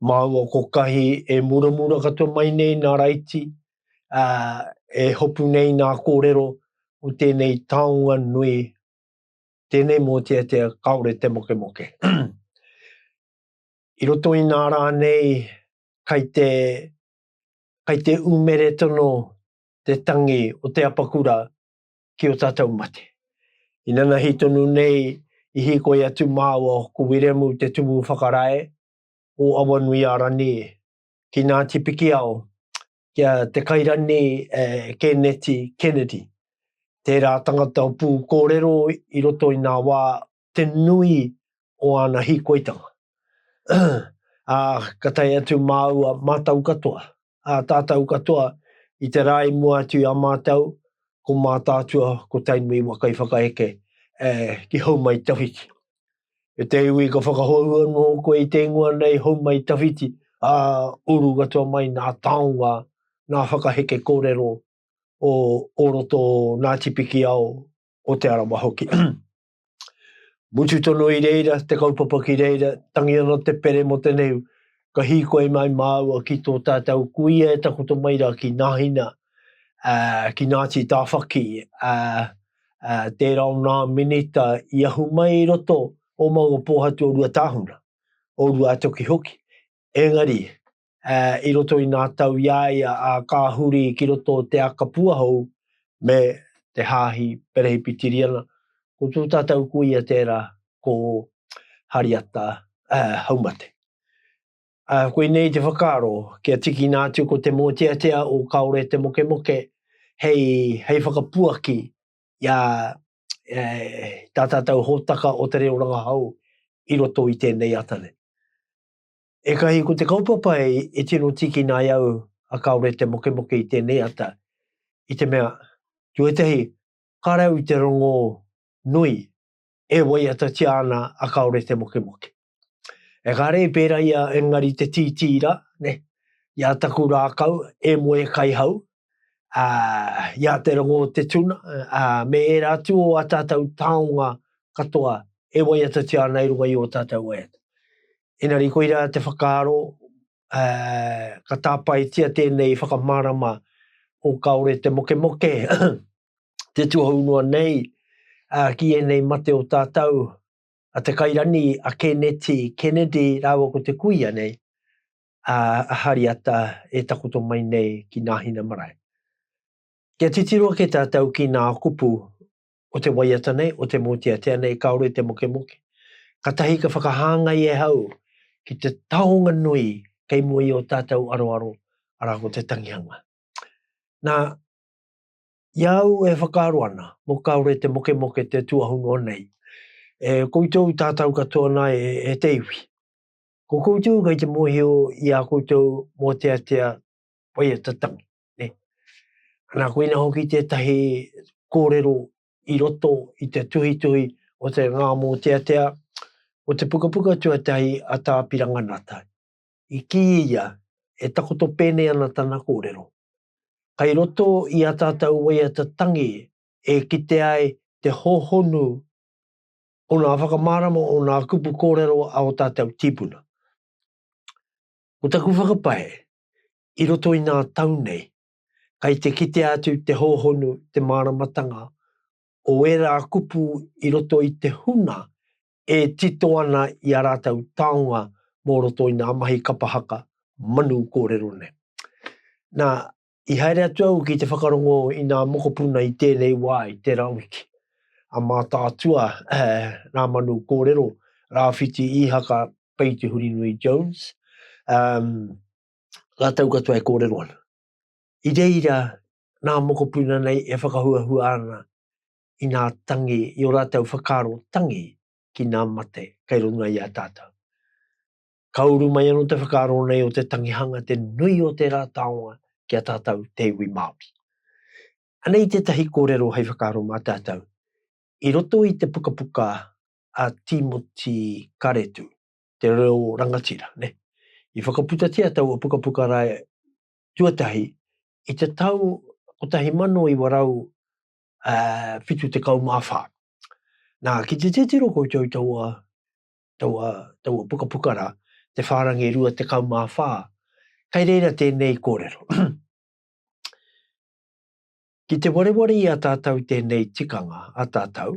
Māua ko Kahi e muramura katoa mai nei nā Raiti, ā, e hopu nei nā kōrero o tēnei taonga nui, tēnei mōteatea kāore te mokemoke. I roto i nā rā nei, kai te, kai te umeretono te tangi o te apakura ki o tātou mate. Inanahi tonu nei i hīkoi atu māua ko Wiremu Te Tumu Whakarae, o Awanuiārane ki Ngāti Pikiao, ki a Te Kairane Kēneti Kennedy, tērā tangata o pūkōrero i roto i ngā wā te nui o āna hīkoitanga. Ā, ka tae atu māua, mātau katoa, ā tātou katoa i te rā i mua atu i a mātou, ko Mātaatua, ko Tainui wa Kaiwhakaheke, ē, ki Houmaitawhiti. E te iwi ka whakahou anō koe i te ingoa nei Houmaitawhiti, ā, uru katoa mai nā taonga, nā whakaheke kōrero o o roto o Ngāti Pikiao, o Te Arawa hoki. Mutu tono i reira, te kaupapa ki reira, tangi ana te pere mo te neu, ka hīkoi mai māua ki tō tātau kuia e takoto mai rā ki Nahina, uh, ki Ngāti Tāwhaki, uh, uh, tērā o nā minita i ahu mai i roto o Maungapōhatu o Ruatāhuna, o Ruatoki hoki. Engari, uh, i roto i nā tau i a ia a kā huri ki roto o te aka puahou me te hāhi perehi pitiriana. Ko tū tātou kuia tērā ko Hariata uh, Haumate. Uh, ko inei te whakaaro, kia tiki nā atu ko te mōteatea o kaore te mokemoke hei, hei whakapuaki i a eh, tā tātou hōtaka o te reo rangahau i roto i tēnei atane. Ekahi ko te kaupapa e tino tīkina ai au a kāore te mokemoke i tēnei ata, i te mea, tuatahi, kāre au i te rongo nui e waiatatia ana a kāore te mokemoke. E kare i pērā ia engari te tītī rā, nē, i a taku rākau e moe kai hau, ā, i a te rongo o te tuna, ā, me ērā atu o ā tātou taonga katoa e waiatatia ana i runga i ō tātou waiata. Engari koirā te whakaaro, ka tāpaetia tēnei whakamārama o kāore te mokemoke te tuhou noa nei ki ēnei mate o tātou, a Te Kairani, a Kēneti, Kennedy, rāua ko te kuia nei, a Hariata e takoto mai nei ki Nāhina Marae. Kia titiro ake tātou ki nā kupu o te waiata nei, o te mōteatea nei, kāore te mokemoke. Katahi ka whakahāngai e hau ki te taonga nui kei mua i o tātou aroaro, arā ko te tangihanga. Nā, i a au e whakaaro ana, mō kāore te mokemoke te tuahunoa nei, e koutou tātou katoa nā e, e te iwi. Ko koutou kei te mōhio i ā koutou mōteatea waiata tangi. Ne? Ana, koina hoki tētahi kōrero i roto i te tuhituhi o te ngā mōteatea o te pukapuka tuatahi a Tā Piranganata. I kī ia, e takoto pēnei ana tana kōrero. Kai roto i ā tātou waiata tangi e kite ai te hōhonu o ngā whakamārama o ngā kupu kōrero a ō tātou tīpuna. Ko taku whakapae, I roto i ngā tau nei, kei te kitea atu te hōhonu, te māramatanga o ērā kupu i roto i te huna e tito ana i ā rātou taonga mō roto i ngā mahi kapa haka manu kōrero nei. Nā, i haere atu au ki te whakarongo i ngā mokopuna i tēnei wā, i tērā wiki, a Mātaatua ngā manu kōrero, Rāwhiti Īhaka, Pei Te Hurinui Jones, um, rātou katoa e kōrero ana. I reira nā mokopuna nei e whakahuahua ana i nā tangi, i o rātou whakaaro tangi ki nā mate kei runga i a tātou. Ka uru mai anō te whakaaro nei o te tangihanga te nui o tērā taonga ki a tātou te iwi Māori. Anei tētahi kōrero hei whakaaro mā tātou i roto i te pukapuka a Tīmoti Karetu. te reo rangatira, nē. I whakaputatia taua pukapuka rae tuatahi i te tau 1974. Nā, ki te titiro koutou taua, taua, taua pukapuka rā, Te Whārangi Rua Tekau Mā Whā, kei reira tēnei kōrero. Ki te wareware i a tātou tēnei tikanga, a tātou,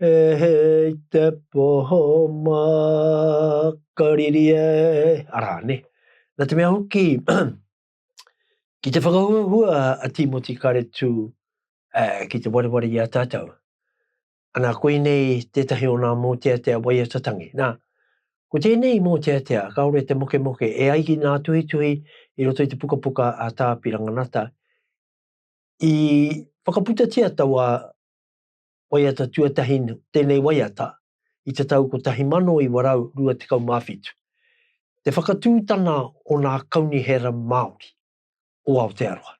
He hei te poho makariri e, arā, ne? Nā te mea hoki, ki te whakahuahua a Tīmoti Karetū eh, ki te wareware i a tātou. Ana, koinei tētahi o ngā mōteatea waiata tangi. Nā, ko tēnei mōteatea, kāore te mokemoke, e ai ki ngā tuhituhi i roto i te pukapuka a Tā Piranganata, i whakaputatia taua waiata tuatahi nō tēnei waiata i te tau 1927, te whakatūtana o nā kaunihera Māori o Aotearoa.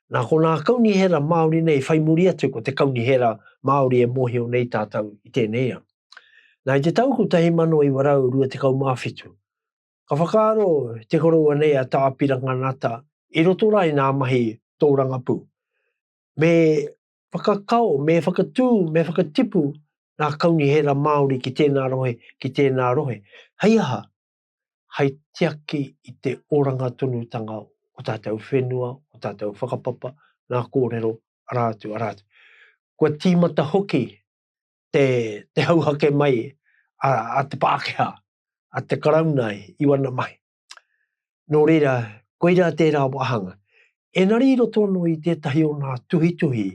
Nā konā kaunihera Māori nei whai muri atu ko te kaunihera Māori e mōhio nei tātou i tēnei ao. Nā i te tau 1927, ka whakaaro te koroua nei a Tā Piranga Ngata i roto rā i nā mahi tōrangapū me Whakakao, me whakatū, me whakatipu ngā kaunihera Māori ki tēnā rohe, ki tēnā rohe. Hei aha? Hai tiaki i te oranga tonutanga o tātou whenua, o tātou whakapapa, ngā kōrero, arā atu, arā atu. Kua tīmata hoki te, te hauhake mai a, a te Pākehā, a te Karauna i wana mahi. Nō reira, koirā tērā wāhanga. Engari i roto anō i tētahi o ngā tuhituhi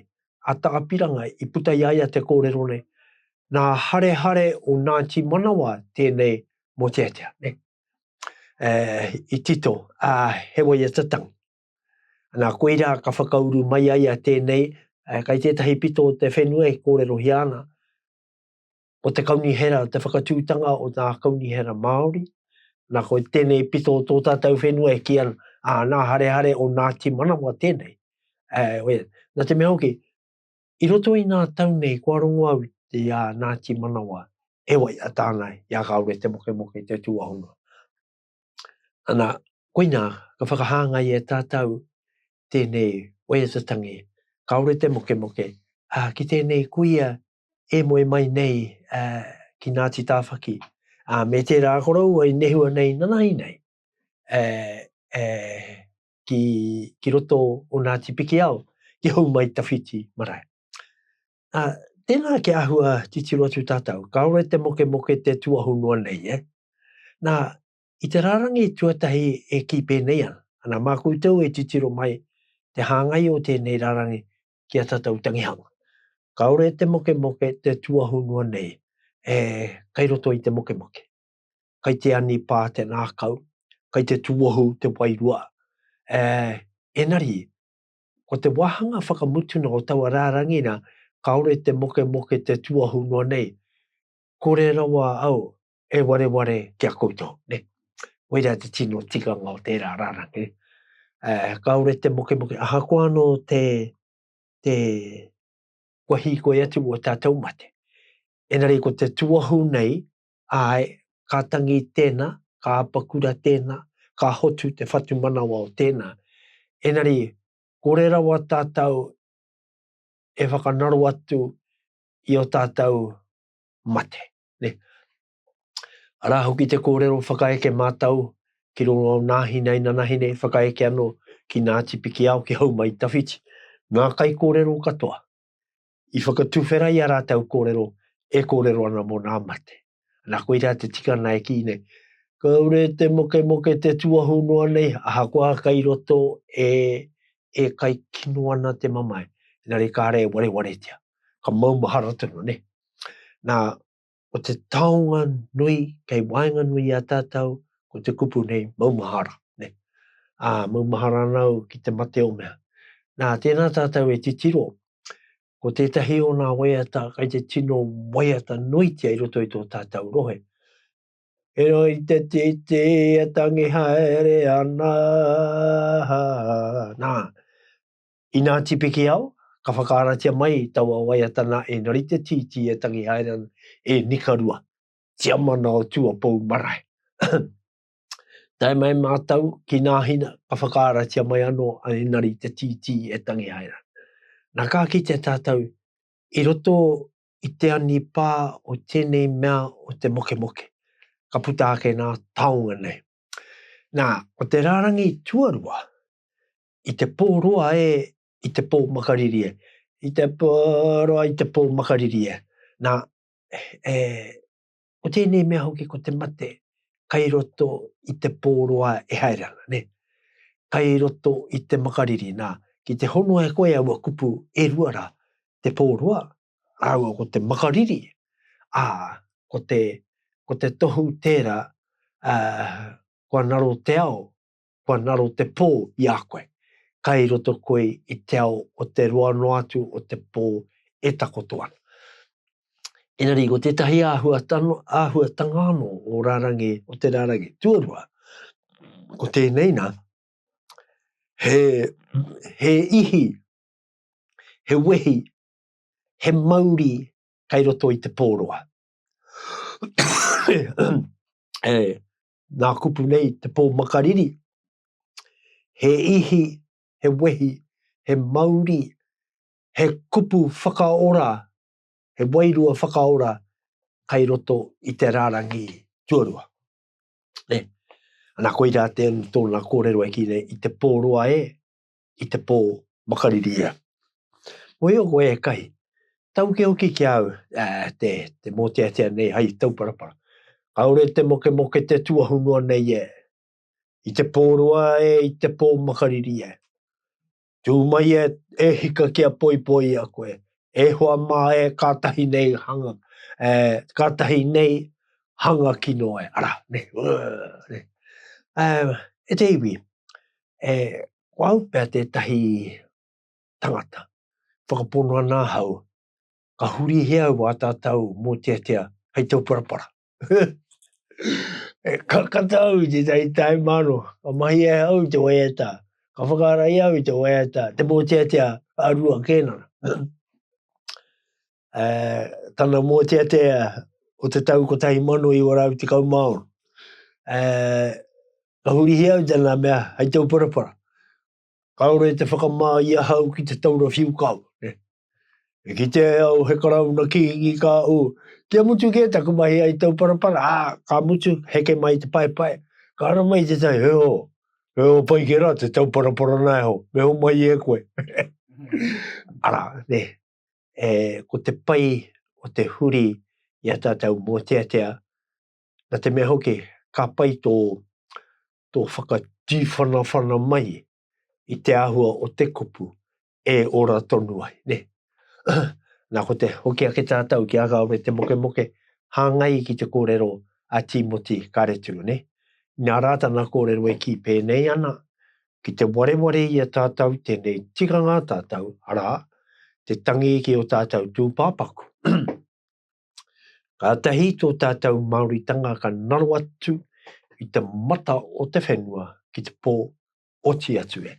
a Tāpiranga i puta i a ia te kōrero nei, nā Harehare o Ngāti Manawa tēnei mōteatea, nē? E, i tito, ā, he waiata tangi. Nā, koirā ka whakauru mai a ia tēnei, e, kei tētahi pito o te whenua e kōrerohia ana, o te kaunihera, te whakatūtanga o ngā kaunihera Māori, nā koe tēnei pito o tō tātou whenua e kia a nā harehare o Ngāti Manawa tēnei. Uh, oe, nā te mea hoki, i roto i nā tau nei kua rongo au te a Ngāti Manawa e wai a tāna i a kāore te moke moke te tūahonga. Ana, koina, ka whakahāngai e tātou tēnei oe te tangi, kāore te moke moke, a, ki tēnei kuia e moe mai nei uh, ki Ngāti Tāwhaki. Uh, me tērā koroua i nehua nei nanahi nei uh, uh, ki, ki roto o Ngāti Pikiao ki hou mai tawhiti marae. Uh, tēnā ke ahua titiro atu tātou, kāore te moke moke te tuahu noa nei, eh? Nā, i te rārangi tuatahi e kī pēnei ana, ana mā koutou e titiro mai te hāngai o tēnei rārangi ki a tatou tangihanga. Kaore te mokemoke te tuahunua nei e kai roto i te mokemoke. Kai te ani pa te ngakau, kai te tuohu te wairua. E, enari, ko te wahanga whakamutuna o taua rarangi na, kaore te mokemoke te tuahunua nei, kore rawa au he wareware ki a koutou. Ne? Koirā te tino tikanga o tērā rārangi. Uh, kāore te mokemoke, ahakoa anō te, te kua hīkoi atu o tātou mate. Enari ko te tuahu nei, ai, ka tangi tēnā, ka apakura tēnā, ka hotu te whatumanawa o tēnā. Enari, kore rawa tātou e whakanaro atu i o tātou mate. Ne? Arā hoki te kōrero whakaeke mātau ki roto o nā hina inanahine whakaeke anō ki Ngāti Pikiao, ki Houmaitawhiti, ngā kaikōrero katoa i whakatuwhera i a rātau kōrero e kōrero ana mō nā mate. Nā koirā te tika nā e kī nei, kaore te mokemoke te tuahu noa nei, ahakoa kai roto e, e kai kino ana te mamae, engari kāre e warewaretia. Ka maumahara tonu, ne? Nā, ko te taonga nui kei waenganui i a tātou, ko te kupu nei, maumahara, ne. Ā, maumahara ana au ki te mate o mea. Nā, tēnā tātou e titiro, ko tētahi o ngā waiata kai te tino waiata nuitia i roto i tō tātou rohe. E roi te titi e tangi haere ana. Nā, Inā Tipikiao, ka whakaaratia mai taua waiatana e Narite Tītī e Tangi Hairan, e Nikarua, Tiamana o Tuapou marae. Tae mai mātou ki Nāhina, ka whakaaratia mai anō a Inari Te Tītī e Tangi Hairan. Nā ka kite tātou i roto i te anipā o tēnei mea o te mokemoke, ka puta ake nā taonga nei. Nā, ko te rārangi tuarua, i te pō roa e, i te pō makariri e, i te pō roa i te pō makariri e. Nā, e, ko tēnei mea hoki ko te mate, kai roto i te pō roa e haere ana, ne? Kai roto i te makariri, nā, ki te hono e koe aua kupu e rua rā, te pō roa, rāua ko te makariri, ā, ko te, ko te tohu tērā, ā, kua ngaro te ao, kua ngaro te pō i a koe, kai roto koe i te ao o te roa noa atu o te pō e takoto ana. Engari, ko tētahi āhuatanga anō o rārangi, o te rārangi tuarua, ko tēnei nā, he, he ihi, he wehi, he mauri kai roto i te pō roa. e, nā kupu nei te pō makariri, he ihi, he wehi, he mauri, he kupu whakaora, he wairua whakaora kai roto i te rārangi tuarua. Nē, ana koirā tēnā tōna kōrero e kī nei, i te pō roa e, i te pō makariri ia. Mōhio koe e kahi, tauke hoki ki a au te, te mōteatea nei hai tauparapara. Kaore te mokemoke te tuahu noa nei e, i te pō roa e, i te pō makariri e. Tū mai e, e hika ki a poipoi i a koe, e hoa mā e kātahi nei hanga, e, kātahi nei hanga kino e, ara, ne, uh, ne. Uh, e te iwi, E, ko au pea tētahi tangata, whakapono ana ahau, ka hurihia au a tātou mōteatea hei tau parapara. e kakata au i tētahi taimāno, ka mahi e au i te waiata, ka whakaara i au i te waiata, te mōteatea a rua kēnana. uh, tana mōteatea o te tau 1916. Uh, ka hurihia au tēnā mea hai tau parapara. Ka ora e te whakamā i ahau ki te taura whiu kau. Ne? E ki te au he karauna ki ingi ka u. Kia mutu ke taku mahi ai tau parapara, a, ka mutu heke mai te pae pae. Ka ara mai te tai, he ho, he ho pai ke ra te tau parapara na e ho, me ho mai e koe. ara, ne, e, ko te pai o te huri i a tātou mōteatea, nā te mea hoki, ka pai tō, tō whakatīwhanawhana mai i te āhua o te kupu e ora tonu ai, ne? nā ko te hoki ake tātou ki a Kāore Te Mokemoke, hāngai ki te kōrero a Tīmoti Kāretu, ne? Nā rā tana kōrero e kī pēnei ana, Ki te wareware i a tātou tēnei tikanga a tātou, arā, te tangi ki ō tātou tūpāpaku. Kātahi tō tātou Māoritanga ka naro atu i te mata o te whenua ki te pō, oti atu e.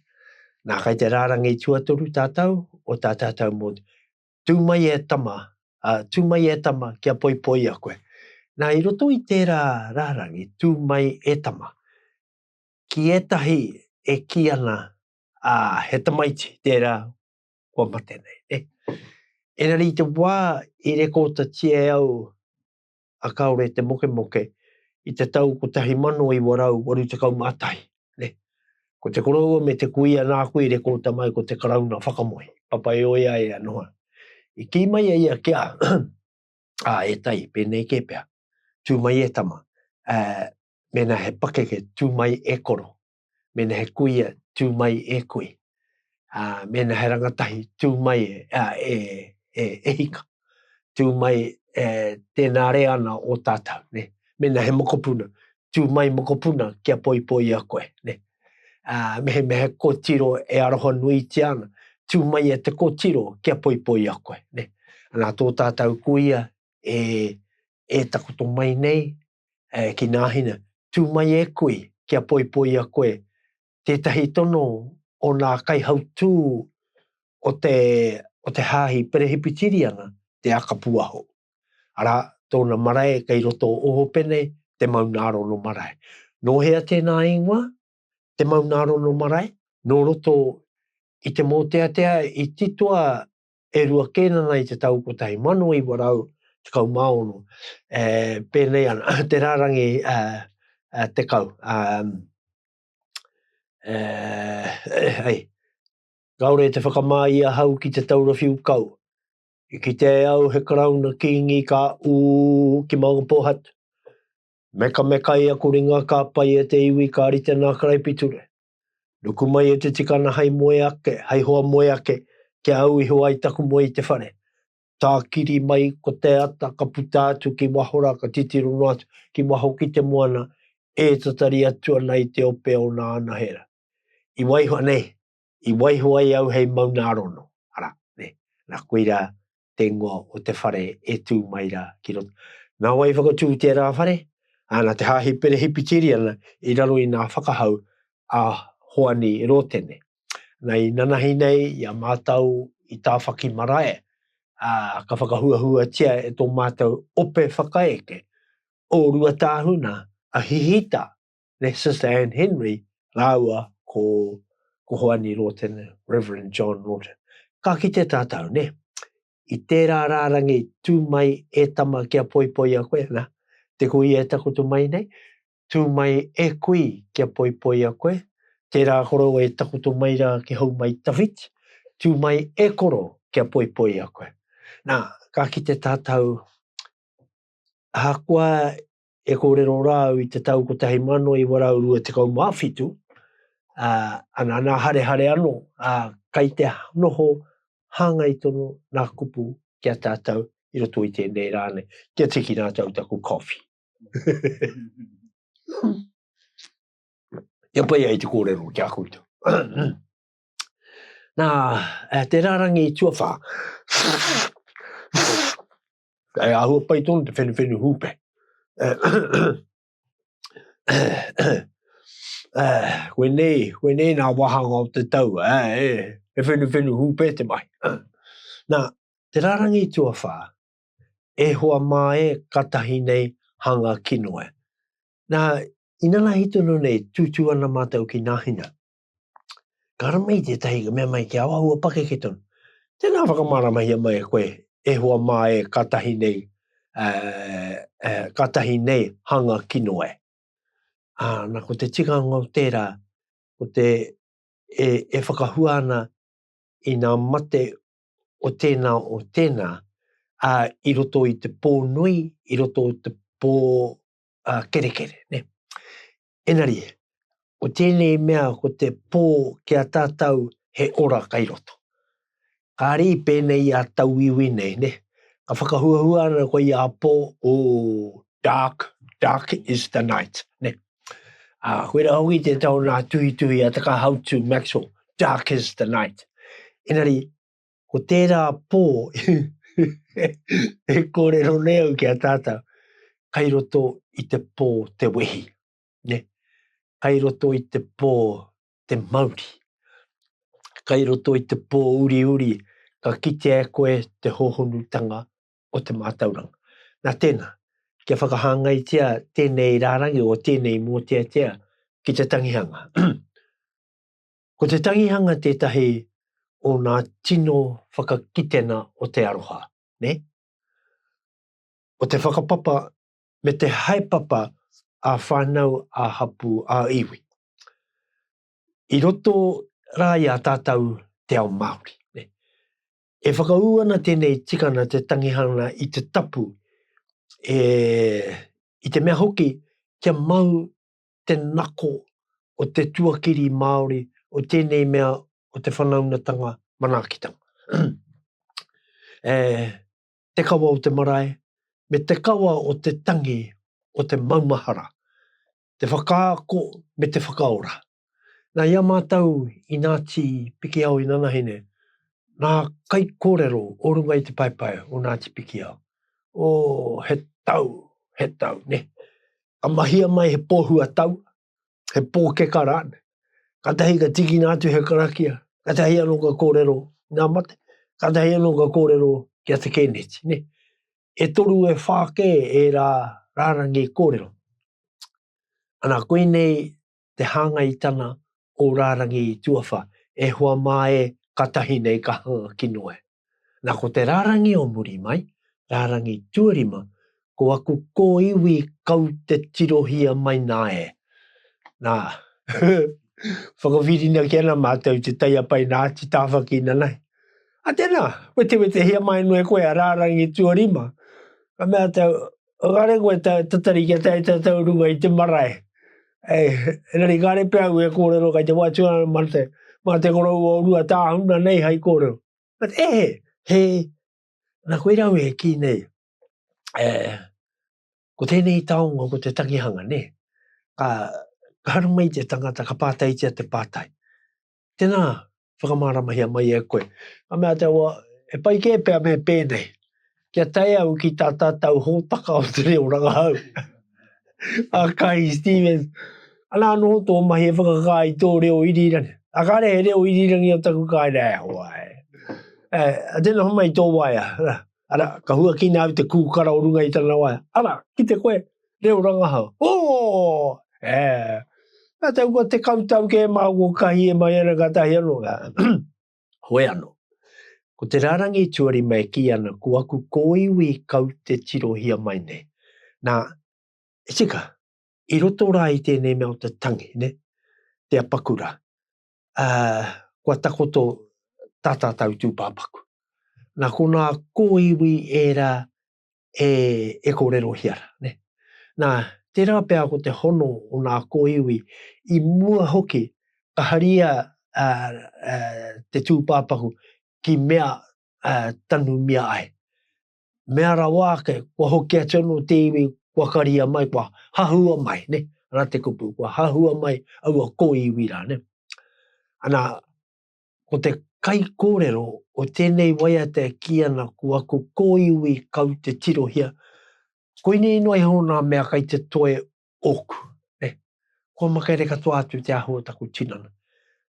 Nā, kei te rārangi tuatoru tātou o tā tātou mō Tū mai e tama, ā, tū mai e tama kia poipoia koe. Nā, i roto i tērā rārangi, tū mai e tama, Ki ētahi e kī ana, ā, he tamaiti tērā kua mate nei, nē. Engari i te wā i rekoatatia e au a Kāore te Mokemoke i te tau 1981, nē, ko te koroua me te kuia nāku i rekota mai ko te Karauna whakamoe, Papaioea ea noa. I kī mai a ia kia, ā, e tai, pēnei kē pea, tū mai e tama, ā, Mēnā he pakeke, tū mai e koro. Mēnā he kuia, tū mai e kui. Ā, mēnā he rangatahi, tū mai e, ā, e, e, e hika. Tū mai, e, tēnā re ana o tātou, ne. Mēnā he mokopuna, tū mai mokopuna kia poipoia koe, ne. Ā, mehemea he kōtiro e aroha nuitia ana, tū mai e te kōtiro kia poipoia koe, ne. Anā, tō tātou kuia e, e takoto mai nei, E ki Nāhine, tū mai e koe kia poipoia koe tētahi tono o nā kaihautū o te, o te Hāhi Perehipitiriana, te Akapuaho. Arā, tōna marae kei roto o Ōpene, te Maunārono marae. Nō hea tēnā ingoa, te Maunārono marae? Nō roto i te mōteatea i titoa e rua kē nana i te tau 1916, e, pēnei ana, te rārangi e, e, tekau, e, e, hei, kāore i te whakamā i ahau ki te taura whiu kau, i kite e au he karauna kīngi ka ū ki maunga pōhatu, mekamekai aku ringa ka pai e te iwi ka rite nā karaipiture, Nuku mai e te tikana hai moe ake, hai hoa moe ake, kia au iho ai taku moe i te whare. Tākiri mai ko te ata, ka puta atu ki waho rā, ka titiro noa atu ki waho ki te moana, e tatari atu ana i te ope o nā anahera. I waiho, nē, i waiho ai au hei maunārono, arā, nē, nā, koirā, te ingoa o te whare e tū mai rā ki roto. Nā wai whakatū tērā whare? Ā, nā te Hāhi Perehipitīriana i raro i ngā whakahau a Hoani Rōtene. Nā, i nanahi nei i a mātou i Tāwhaki marae, ā, ka whakahuahuatia e tō mātou ope whakaeke o Ruatāhuna a Hihita me Sister Anne Henry rāua ko, ko Hoani Lawton, Reverend John Lawton. Ka kite tātou, ne? I tērā rārangi tū mai e tama kia poipoia koe, na, te kui e takutu mai nei, tū mai e kui kia poipoia koe, tērā koro e takutu mai rā ki hau mai tawhit, tū mai e koro kia poipoia koe. Nā, ka kite tātou, ahakoa e kōrero rā au i te tau 1927, ā, ana, nā harehare anō, ā, kai te noho hāngai tonu nā kupu ki a tātou i roto i tēnei rā nei, kia tiki rātou taku coffee. Kia pai ai te kōrero ki a koutou. Nā, te rārangi tuawhā. E ahua pai tonu te whenewhenu hūpe. koe nei, koe nei nā wahanga o te tau, e, e whenewhenu hūpe te mai. Nā, te rarangi tuawhā, e hoa mā e katahi nei hanga kinoe. Nā, inanahi tonu nei, tūtū ana mātou ki nāhina. Ka rama i tētahi ka mea mai ki a wahua pakeke tonu. Tēnā whakamaramahia mai e koe, e hoa mā e katahi nei, uh, uh, katahi nei hanga kino e. Ah, na ko te tikanga o tērā, ko te e, e whakahua ana i nā mate o tēnā o tēnā, a uh, i roto i te pō nui, i roto i te pō uh, kerekere. Ne? Engari, ko tēnei mea ko te pō ki a tātou he ora kai roto. Kāre i pēnei i a tauiwi nei, nē? Ka whakahuahua ana koe i a pō, ooh, dark, dark is the night, nē? Ā, koe rā hoki te tau nā tuhituhi a Takahautu Maxwell, dark is the night. Engari, Ko tērā pō e kōrero nei au ki a tātou, kai roto i te pō te wehi, ne? kai roto i te pō te mauri, kai roto i te pō uri uri, ka kitea e koe te hohonutanga o te mātauranga. Nā tēnā, kia whakahāngaitia tēnei rārangi o tēnei mōteatea ki te tangihanga. Ko te tangihanga tētahi o nā tino whakakitenga o te aroha, nē? O te whakapapa me te haepapa ā-whānau, ā-hapū, ā-iwi. I roto rā i a tātou te ao Māori, nē? E whakaū ana tēnei tikanga te tangihanga i te tapu, e, i te mea hoki kia mau te nako o te tuakiri Māori o tēnei mea o te whanaungatanga manaakitanga. e te kawa o te marae, me te kawa o te tangi o te maumahara, te whakaako me te whakaora. Nā, i a mātou i Ngāti Pikiao inanahine, ngā kaikōrero o runga i te paepae o Ngāti Pikiao, oh, he tau, he tau, nē. Ka mahia mai he pōhua tau, he pōkeka rānei. Katahi ka tikina atu he karakia, katahi anō ka kōrero i ngā mate, katahi anō ka kōrero ki a Te Kēneti, nē. E toru e whā kē ērā rārangi kōrero. Ana, koinei te hāngai i tana o rārangi i tuawha, e hoa mā e, ka tahi nei ka hanga kino e. Na ko te rārangi o muri mai, rārangi tuarima, ko aku kōiwi kau te tirohia mai nā e. Na, whakawhirinaki ana mātou te taiapai nā Ati Tāwhaki nanai. A tēnā, wetewetehia mai noa e koe a rārangi tuarima, ka mea te. Kāre koe ta, tatari kia tae ta tau runga i te marae. E, rari kāre pia au e kōrero kai te wātua ma te, ma te korou o rua tāhuna nei hai kōrero. But e he, he, na koe rau e ki nei. E, ko tēnei taonga, ko te takihanga, ne? Ka, ka haramai te tangata, ka pātaitia te pātai. Tēnā, whakamāramahia mai e a koe. Ka mea te awa, He pai kē pea me pēnei. Kia tae au ki tā tātau hōtaka o te reo rangahau. a Kahi Stephens, Ana anō tō mahi e whakakā i tō reo irirangi. A kāre he reo irirangi o taku kāinga e hoa. E, tēnā homai tō waea. Ara, ka huakina au te kūkara o runga i tana waea. Ara, ki te koe, reo rangahau. Ooh! Eh! Nā te kua te kau tau kē mā kua kahi e mai ana ka tahi anō. Hoe anō. Ko te rārangi tuarima e kī ana ko aku kōiwi kau te tirohia mai nei. Nā, e tika, i roto rā i tēnei mea o te tangi, nē, te apakura. kua takoto tā tātou tūpāpaku. Nā konā kōiwi ērā e kōrerohia rā, nē. Nā, tērā pea ko te hono o nā kōiwi, i mua hoki ka haria te tūpāpaku ki mea tanumia ai. mea rawa ake, kua hoki atu anō te iwi, kua karia mai, kua hahua mai, ne? Ana te kupu, kua hahua mai aua kōiwi rā, ne? Ana, ko te kai kōrero o tēnei waiata e kī ana ko aku kōiwi kau te tirohia, koinei noa iho nā mea kai te toe ōku, nē. Kua makaere katoa atu te ahu o taku tinana.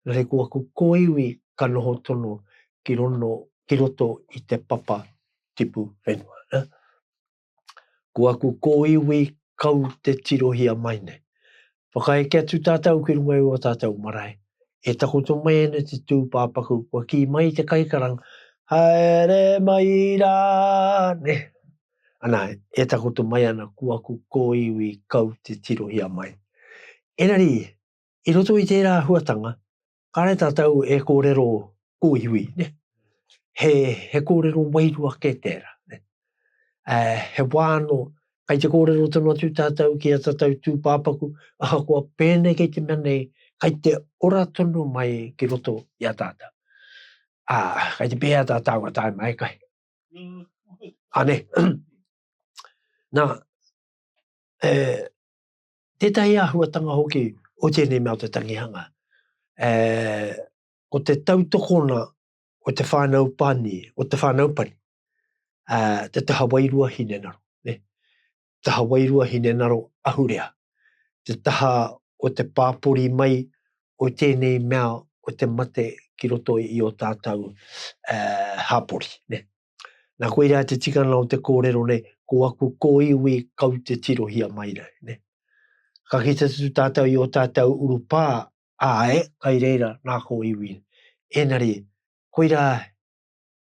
Engari ko aku kōiwi ka noho tonu ki rono, ki roto i te papa tipu whenua, nē. Ko aku kōiwi kau te tirohia mai nei. Whakaeke atu tātou ki runga i ō tātou marae, e takoto mai ana te tūpāpaku, kua kī mai te kaikaranga, Haere mai rā, nē. Ana, e takoto mai ana ko aku kōiwi kau te tirohia mai. Engari, i roto i tērā āhuatanga, kāre tātou e kōrero kōiwi, ne? He, he kōrero wairua kē tērā, ne? Ā, he wā anō, kai te kōrero tonu atu tātou ki a tātou tūpāpaku, ahakoa pēnei kei te mea nei, kai te ora tonu mai ki roto i a tātou. Ā, kai te pēhea tā tāua tāima e kai? Ane. Nā, e, tētahi āhuatanga hoki o tēnei mea o te tangihanga, e, ko te tautokona o te whānau pani, o te whānau pani, a, te taha wairua hine naro, ne? taha wairua hinengaro ahurea, te taha o te pāpori mai o tēnei mea o te mate ki roto i ō tātou hapori. Nā koirā te tikanga o te kōrero nei, ko aku kōiwi kau te tirohia mai nei. Ka kite atu tātou i ō tātou urupā, āe, kai reira ngā kōiwi. Ēngari, koirā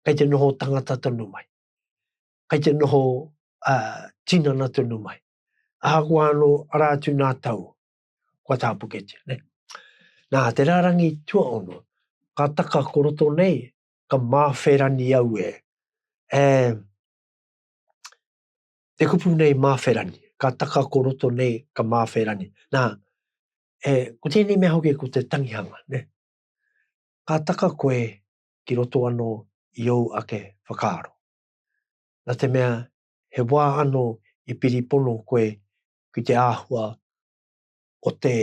kei te noho tangata tonu mai. kei te noho tinana tonu mai. Ahakoa anō, arā atu nā tau, kua tāpuketia, nē. Nā, te rārangi tuaono, ka taka ko roto nei, ka māwherani au e, e, te kupu nei māwherani, ka taka ko roto nei, ka māwherani. Nā, e, ko tēnei mea hoki ko te tangihanga, ne? Ka taka koe ki roto anō i ou ake whakaaro. Na te mea, he wā ano i piri pono koe ki te āhua o te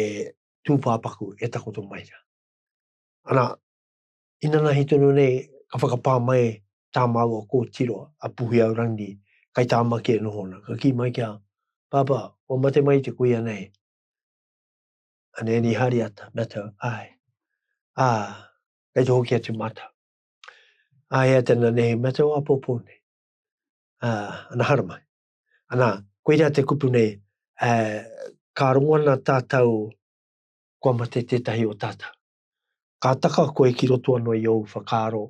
tūpāpaku e takoto mai ra. Ana, inanahi tonu nei ka whakapā mai tā māua kōtiro a Puhiau Rangi kai Tāmaki e noho ana, ka kī mai ki a, Pāpā, kua mate mai te kuia nei? A Nēni Hāriata, Matto, Āe. Ā, kei te hoki atu mātou. Aia tena nei, me te oa popo nei. Uh, ana hara mai. Ana, koe rea te kupu nei, uh, ka rongo ana tātou kua mate tētahi o tātou. Ka taka koe ki roto anō i ou whakaaro,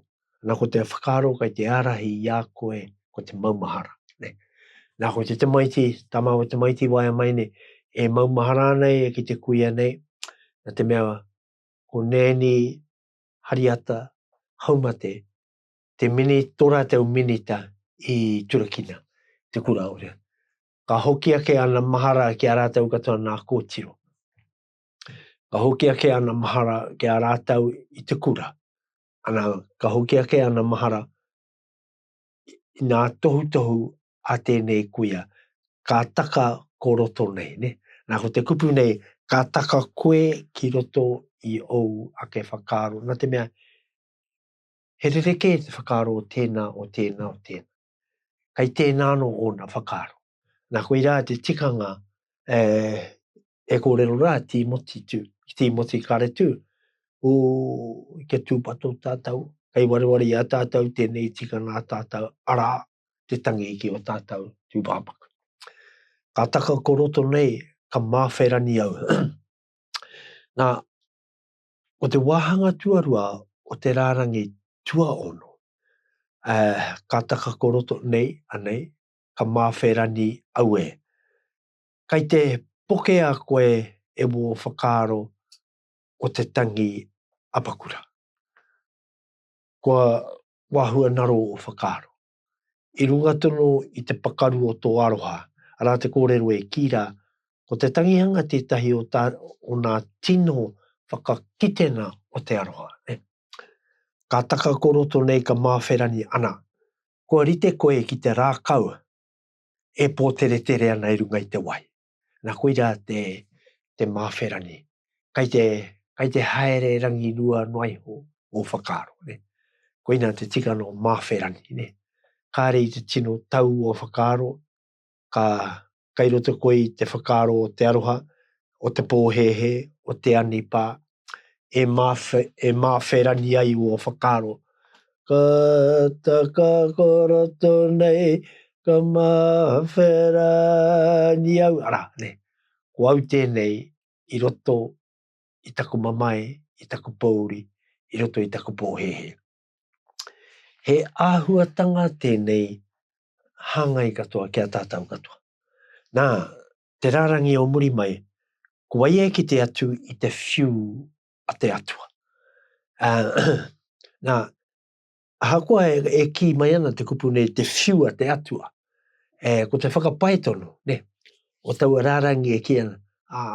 ana ko te whakaaro kai te ārahi i a koe, ko te maumahara. Ne? Nā ko te tamaiti, tama o tamaiti waia mai nei, e maumahara nei e ki te kuia nei, na te mea ko nēni Hariata Haumate, te mini, tō rātou minita i turakina te kura ora. Ka hoki ake ana mahara ki a rātou katoa nā kōtiro. Ka hoki ake ana mahara ki a rātou i te kura, ana, ka hoki ake ana mahara i ngā tohutohu a tēnei kuia, ka taka ko roto nei, ne? Nā, ko te kupu nei, ka taka koe ki roto i ōu ake whakaaro, nā te mea, he rerekē te whakaaro o tēnā, o tēnā, o tēnā. Kei tēnā anō ōna whakaaro. Nā, koirā te tikanga, e, e kōrero rā Tīmoti tū, ki Tīmoti kāre tū, ū, kia tūpato tātou, kei wareware i a tātou tēnei tikanga a tātou, arā, te tangi ki ō tātou tūpāpaku. Ka taka ko roto nei, ka māwherani au. Nā, ko te wāhanga tuarua o te rārangi tuaono, uh, ka taka ko roto nei, anei, ka māwherani au e. Kai te pokea koe e wō whakaaro ko te tangi apakura. Kua wahua naro o whakaaro. I runga tonu i te pakaru o tō aroha, arā te kōrero e kī rā, ko te tangihanga tētahi o tā, o nā tino whakakitenga o te aroha. Ka taka ko roto nei ka māwherani ana, kua rite koe ki te rākau e pōteretere ana i runga i te wai. Nā koira te, te māwherani. Kai te, kai te haere rangirua noa iho ō whakaaro. Ne? Koina te tikana o māwherani. Ne? Kāre i te tino tau o whakaaro, ka kai roto koe i te whakaaro o te aroha, o te pōhēhē, o te anipā, e mawhe, e mawherani ai ō whakaaro. Ka taka ko roto nei, ka mawherani au, ara, ne, ko au tēnei i roto i taku mamae, i taku pōuri, i roto i taku pōhēhē. He āhuatanga tēnei hāngai katoa ki a tātau katoa. Nā, te rārangi o muri mai, ko wai e kite atu i te whiu a te Atua. Ā, nā, ahakoa e, e kī mai ana te kupu nei, te whiu a te Atua, e, ko te whakapae tonu, ne, o taua rārangi e kī ana, ā,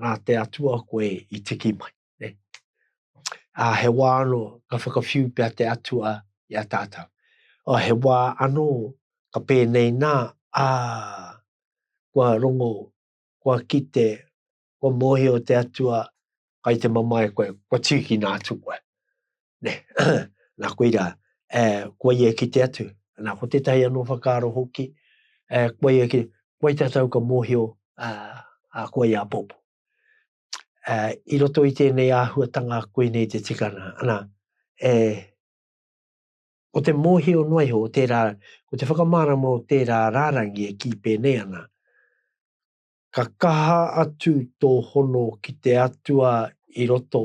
nā te Atua koe i tiki mai. Nē. Ā, he wā anō ka whakawhiu pea te Atua i a tātou. Ā, he wā anō ka pēnei nā, ā, kua rongo, kua kite, kua mōhio te Atua kai te mamae koe, kua tīkina atu koe. Nē. Nā, koirā, e, kua ia e kite atu. Nā, ko tētahi anō whakaaro hoki, e, kua ia e kite, kua i tātou ka mōhio, ā, ā, kua ia apoapo. uh, i roto i tēnei āhuatanga koinei te tikana. Ana, e, o te mōhio noa iho, o tērā, ko te whakamārama o tērā rārangi e kī pēnei ana, ka kaha atu tō hono ki te atua i roto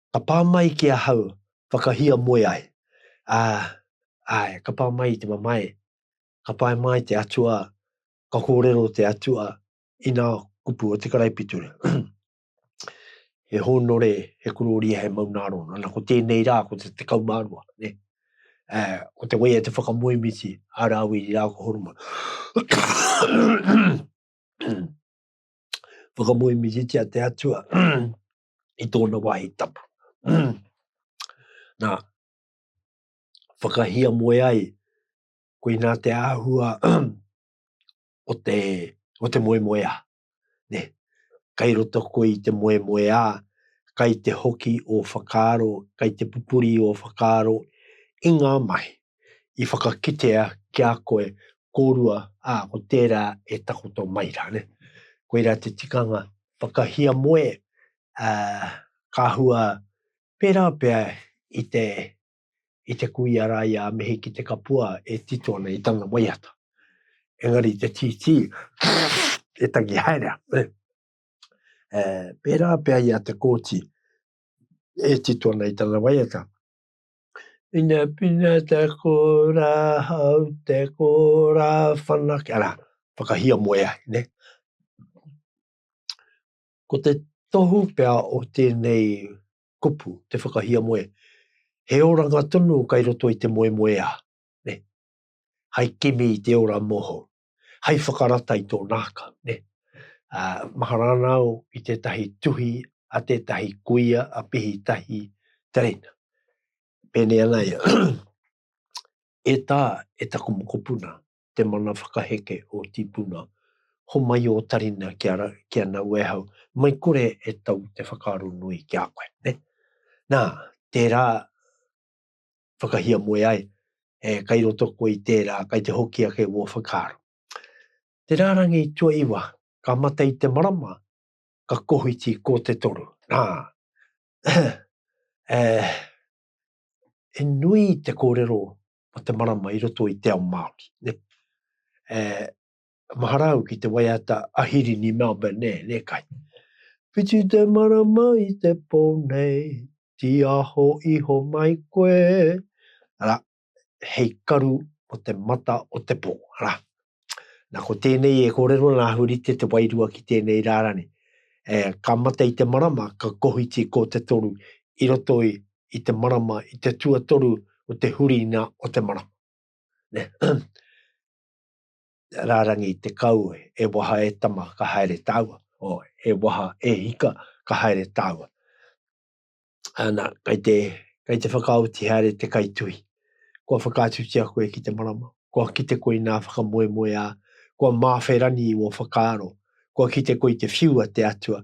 Ka pā mai ki ahau whakahiamoe ai, ā, āe, ka pā mai i te mamae, ka pae māi te Atua, ka kōrero te Atua i nā kupu o te karaipiture, He hōnore, he korōria, he maunārona. Ana ko tēnei rā, ko te tekau mā rua, ne? Ā, ko te waia te whakamoemiti a Rāwiri rā ko Horomona. Whakamoemititia te Atua i tōna wāhi tapu. Nā, whakahia moe ai, ko inā te āhua o te, o te moe moe a. Ne, kai roto koe i te moe moe a, kai te hoki o whakaaro, kai te pupuri o whakaaro i ngā mahi. i whakakitea ki a koe kōrua, ā, ko tērā e takoto mai rā, nē. Koirā te tikanga whakahiamoe, ā, ka hua pērā pea i te, i te kuia rā i a Mihi ki te kapua e tito ana i tana waiata. Engari te tītī e tangi haere ana, nē. Ē, pērā pea i a Te Kooti e tito ana i tana waiata, Pinapina te kora hau, te kora whanake, ara, whakahiamoe ai, ne? Ko te tohu pea o tēnei kupu, te whakahiamoe, he oranga tonu kai roto i te moemoeā, ne? Hai kimi i te ora mohou, hai whakarata i tō nākau, nē. Ā, mahara ana au i tētahi tuhi a tētahi kuia a Pihitahi Tereina. Pēnei ana ia, E tā, e taku mokopuna, te mana whakaheke o Tīpuna, homai ō tarina ki a, ki a Nauēhau, mai kore e tau te whakaaro nui ki a koe, nē. Nā, tērā, whakahiamoe ai, e kai roto koe i tērā, kai te hoki ake wō whakaaro. Te rārangi tuaiwa, ka mate i te marama, ka kohiti kō te toru. Nā, e, e nui te kōrero o te marama i roto i te ao Māori. E, mahara au ki te waiata a Hirini Melbourne, nē, nē kai. Whiti te marama i te pō nei, tīaho iho mai koe, ara, hei karu o te mata o te pō, ara. Nā, ko tēnei e kōrero nā Hurite te wairua ki tēnei rārani. E, ka mate i te marama, ka kohiti ko te toru, i roto i, i te marama, i te tuatoru o te huringa o te marama. Nē. rārangi i te kau, e waha e tama, ka haere tāua, o, e waha e hika, ka haere tāua. Ana, kei te, kei te whakaoti haere te kaituhi. Kua whakaatutia koe ki te marama, kua kite koe nā whakamoemoeā, kua māwherani i wō whakaaro, kua kite koe i te whiu a te Atua,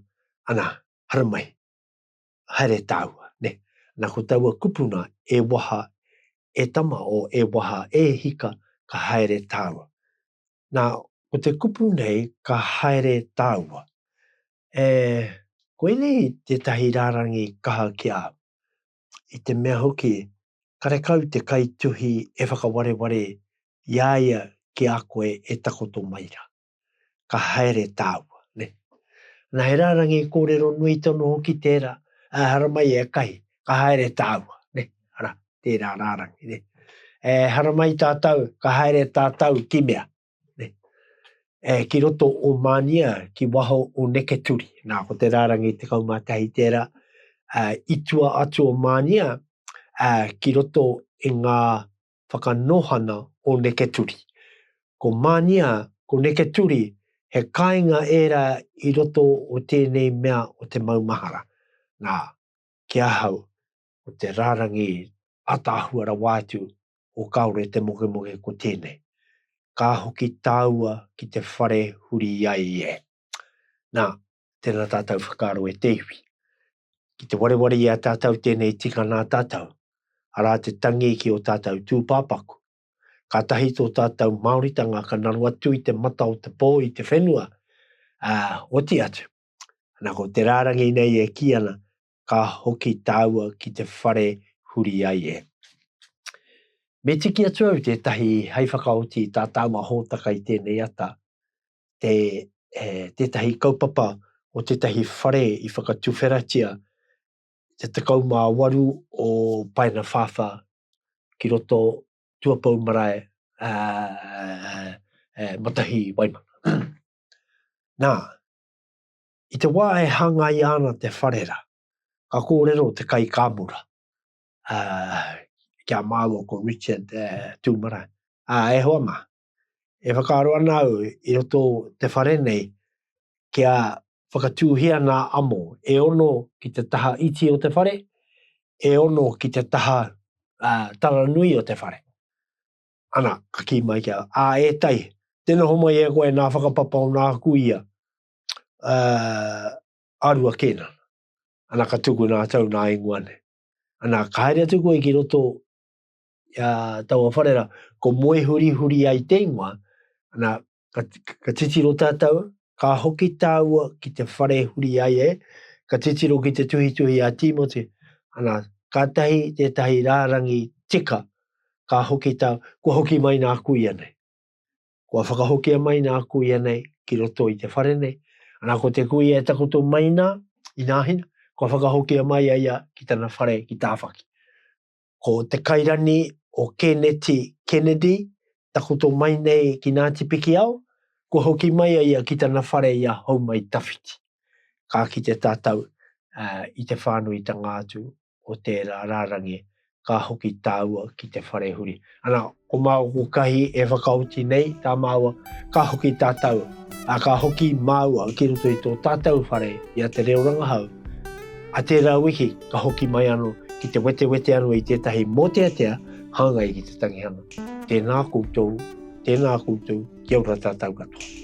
ana, haramai. haere tāua, nē. Nā ko taua kupuna, e waha e tama o e waha e hika, ka haere tāua. Nā, ko te kupu nei, ka haere tāua. E, koinei tētahi rārangi kaha ki a au. I te mea hoki, karekau te kaituhi e whakawareware i a ia ki a koe e takoto mai rā. ka haere tāua, nē. Nā, he rārangi kōrero nui tonu hoki tērā, ehara mai e kahi, ka haere tāua, nē, arā, tērā rārangi, nē. Ehara mai tātou, ka haere tātou ki mea, nē, e, ki roto o Mānia, ki waho o Neketuri. Nā, ko te rārangi tekau mā tahi tērā, ā, i tua atu o Mānia, ā, ki roto i ngā whakanohana o Neketuri. Ko Mania, ko Neketuri, he kāinga ērā i roto o tēnei mea o te maumahara. Nā, ki ahau, ko te rārangi ataahua rawa atu o Kāore te mokemoke ko tēnei, Ka hoki tāua ki te whare huri ai e. Nā, tēnā tātou whakaaro e te iwi. Ki te wareware i a tātou tēnei tika nā tātou, arā te tangi ki ō tātou tūpāpaku. Kātahi tō tātou Māoritanga ka naro atu i te mata o te pō i te whenua, ā, oti atu. Ana ko te rārangi nei e kī ana, Ka hoki tāua ki te whare huri ai e. Me tiki atu au tētahi hei whakaoti i tā tāua hōtaka i tēnei ata, te, e, tētahi kaupapa o tētahi whare i whakatuwheratia te 18 o Paena Whāwhā ki roto Tuapou Marae, a, e, Matahi Waimana. Nā, i te wā e hāngai ana te whare rā, ka kōrero te kaikāmura, a, kia māua ko Richard e, Tūmarae, a, e hoa mā, E whakaaro ana au i roto te whare nei kia whakatūhia nā amo e ono ki te taha iti o te whare, e ono ki te taha uh, tara nui o te whare. Ana, ka kī mai kia, a e tai, te noho mai e koe nā whakapapa o nā kuia, uh, arua kēna. Ana ka tuku nā tau nā ingoa nei. Ana, ka haere atu koe ki roto a taua whare ra, ko moe huri huri ai te ingoa, ana, ka, ka titiro tātou, ka hoki tāua ki te whare huri ai e, ka titiro ki te tuhituhi a Tīmoti, ana, kātahi tētahi rārangi tika, ka hoki tā, kua hoki mai nā kuia nei. Kua whakahokia mai nā kuia nei ki roto i te whare nei, ana ko te kuia e takoto mai nā, i nāhina, kua whakahokia mai a ia ki tana whare ki Tāwhaki. Ko Te Kairani o Kēneti Kennedy takoto mai nei ki Ngāti Pikiao, kua hoki mai a ia ki tana whare i a Houmaitawhiti. Ka kite tātou i te whānuitanga atu o tērā rārangi, ka hoki tāua ki te whare huri. Ana, Ko māku kahi e whakaoti nei tā māua, ka hoki tātou, ā, ka hoki māua ki roto i tō tātou whare i a Te Reo Rangahau. Ā tērā wiki, ka hoki mai anō ki te wetewete anō i tētahi mōteatea hāngai ki te tangihanga. Tēnā koutou, tēnā koutou, kia ora tātou katoa.